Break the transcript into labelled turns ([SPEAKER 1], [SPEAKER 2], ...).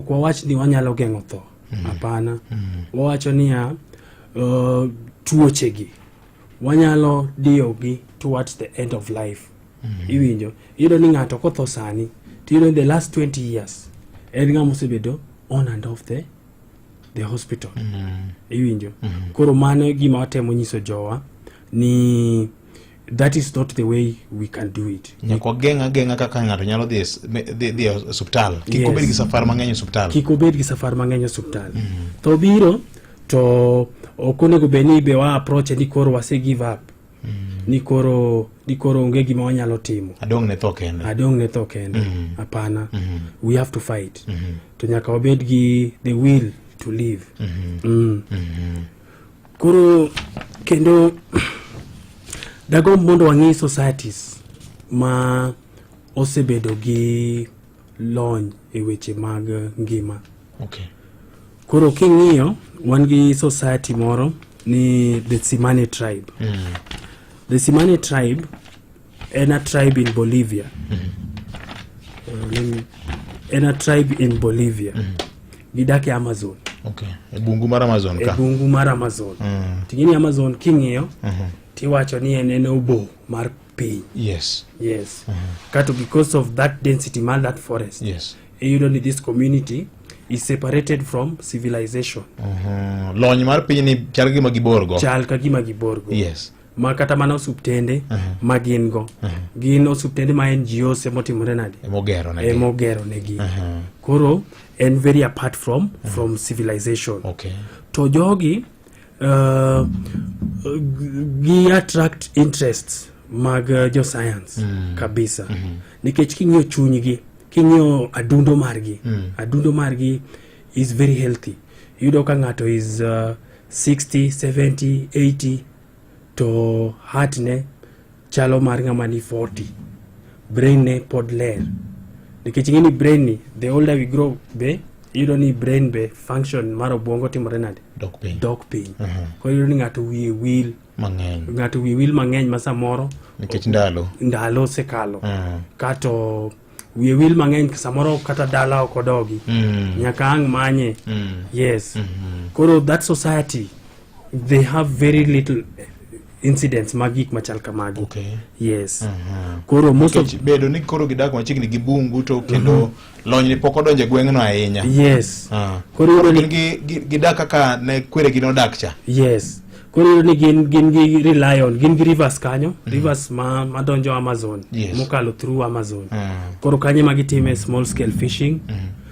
[SPEAKER 1] Ok wawach ni wanyalo geng'o tho, mm. hapana. Mm. Mm. Wawacho niya uh, tuochegi wanyalo diyogi towards the end of life. Mm. Iwinjo iyudo ni ng'ato kotho sani tiyudo the last 20 years en ng'ama osebedo on and off the the hospital mm. iwinjo mm. koro mano gima watemo nyiso jowa ni that is not the way we can do it nyaka wageng' ageng'a
[SPEAKER 2] kaka ng'ato nyalo dhi es- me- dhi dhi e osiptal kik Yes. obed gi safar mang'eny e osiptal kik obed gi safar mang'eny
[SPEAKER 1] e osiptal to obiro to ok onego bed ni be wa approach ni koro wase give up ni koro ni koro onge gima wanyalo timo adong' ne tho kende
[SPEAKER 2] adong' ne tho kende hapana we have to
[SPEAKER 1] fight to nyaka wabed gi the will to live Mm. Koro kendo dagomb mondo wang'e societies ma osebedo gi lony e weche mag ngima. Okay.
[SPEAKER 2] Koro
[SPEAKER 1] king'iyo wan gi society moro ni the Simane tribe. Mm. The Simane tribe Ena tribe in Bolivia. Mm -hmm. uh, let me, Ena tribe in Bolivia. Mm -hmm. Gidake Amazon. Okay. E bungu
[SPEAKER 2] mar Amazon ka. E bungu mar Amazon. Mm
[SPEAKER 1] -hmm. Tingini Amazon king'iyo. Mm -hmm. Tiwacho ni en en obo mar piny. Yes. Yes.
[SPEAKER 2] Mm -hmm. Kato
[SPEAKER 1] because of that density mar that forest. Yes. Iyudo ni
[SPEAKER 2] this
[SPEAKER 1] community is separated from civilization. Mm -hmm. Lony
[SPEAKER 2] mar piny ni chal kagima giborgo. Chal kagima giborgo.
[SPEAKER 1] Yes. ma kata mana osuptende uh -huh. ma gin go uh -huh. gin osuptende ma NGOs emotimore nade emogero negi emogero negi uh -huh. koro en very apart from uh -huh. from civilization okay. to
[SPEAKER 2] jogi
[SPEAKER 1] uh, gi attract interests mag uh, jo science mm. kabisa mm -hmm. nikech king'iyo chunygi king'iyo adundo margi mm. adundo margi is very healthy yudo ka ng'ato is uh, 60 70 80 to heart ne chalo mar ng'ama ni 40 brain ne pod ler nikech ing'e ni brain ni the older we grow be iyudo ni brain be function mar obwongo timore nade dok piny dok piny Mhm. koro iyudo ni ng'ato wiye wil mang'eny ng'ato wiye wil mang'eny ma samoro nikech ndalo
[SPEAKER 2] ndalo
[SPEAKER 1] osekalo Mm. kato wiye wil mang'eny samoro kata dala ok odogi mm. nyaka ang' manye mm. yes mm -hmm. koro that society they have very little incidents mag gik machal kamagi okay. yes uh
[SPEAKER 2] -huh.
[SPEAKER 1] koro most of bedo ni koro gidak
[SPEAKER 2] machiegni gi bungu to kendo uh mhm. -huh. lony ni pok odonje gweng'no ahinya yes uh ah. -huh.
[SPEAKER 1] koro, koro
[SPEAKER 2] gidak kaka ne kwere gi nodak cha yes koro
[SPEAKER 1] iyudo ni gin gin gi rely on gin gi rivers kanyo mm. rivers ma madonjo amazon yes. mokalo through amazon mm. koro kanye ma gitime small scale fishing mm.